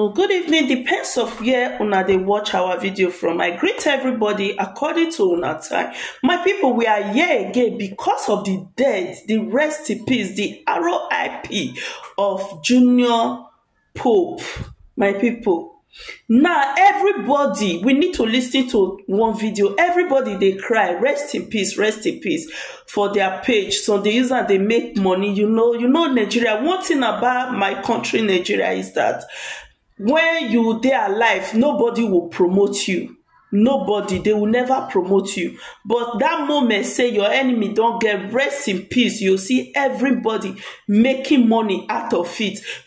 Good evening, depends of where una dey watch our video from. I greet everybody according to una time. My people, we are here again because of the death, the rest in peace, the RIP of Junior Pope. My people, now everybody, we need to listen to one video. Everybody dey cry, rest in peace, rest in peace. for their page so they use and they make money you know you know nigeria one thing about my country nigeria is that when you dey alive nobody will promote you nobody they will never promote you but that moment say your enemy don't get rest in peace you see everybody making money out of it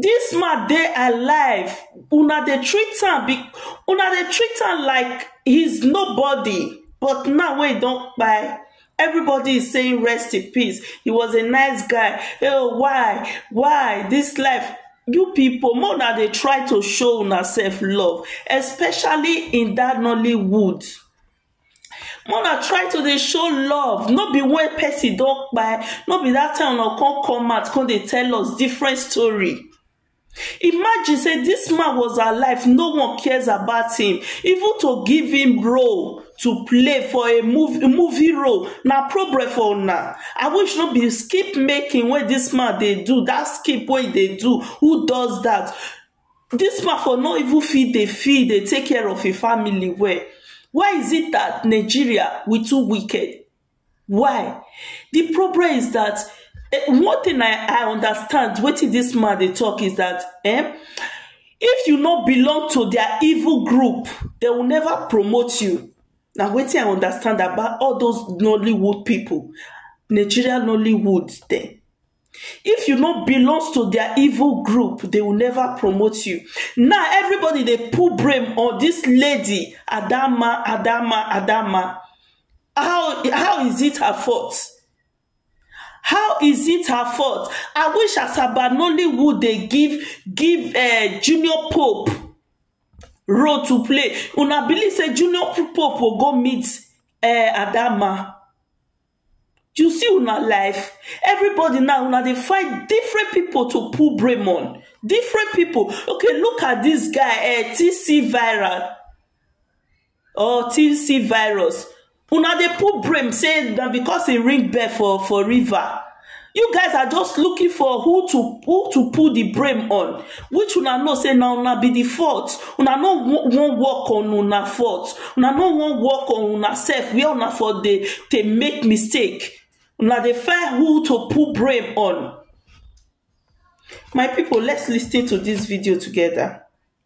This man dey alive una dey treat am una dey treat am like he is nobody but now wey he don kpai everybody is saying rest in peace he was a nice guy oh why why this life you people make una dey try to show una self love especially in that Nollywood Mona try to dey show love no be when person don kpai no be that time una come come out come dey tell us different story imagine say this man was alive no one cares about him even to give him role to play for a movie, movie role na problem for una i wish no be skip making wey this man dey do that skip wey he dey do who does that This man for no even fit dey feed dey take care of him family well why is it that Nigeria we too wicked why the problem is that one thing I I understand wetin this man dey talk is that um if you no belong to their evil group they will never promote you na wetin I understand about all those Nollywood people Nigeria Nollywood dem. if you no belongs to their evil group they will never promote you now everybody dey pull blame on this lady adama adama adama how how is it her fault how is it her fault i wish asaba nollywood dey give give uh, junior pope role to play una believe say junior pope will go meet uh, adama You see una life, everybody now una dey find different people to pull blame on. Different people. Okay, look at this guy, eh, TC viral or TC virus. Una dey pull blame say na because he ring bell for for river. you guys are just looking for who to who to put the blame on which una know say na una be the fault una no wan work on una fault una no wan work on una self where una for dey dey make mistake una dey find who to put blame on my people let's listen to this video together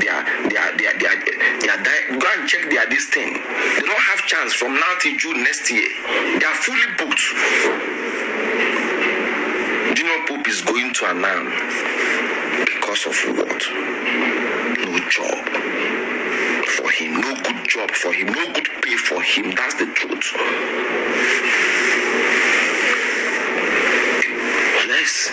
their their their their their di go and check their this thing they don't have chance from now till June next year they are fully booked Junior Pope is going to Anam because of what no job for him no good job for him no good pay for him that's the truth yes.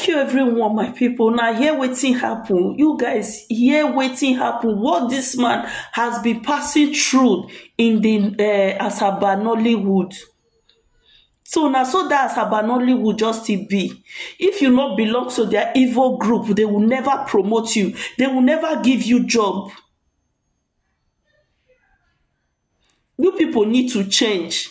Thank you everyone my people now hear wetin happen you guys hear wetin happen what this man has been passing through in the uh, Asaba Nollywood so now so that Asaba Nollywood just still be if you not belong to their evil group they will never promote you they will never give you job you people need to change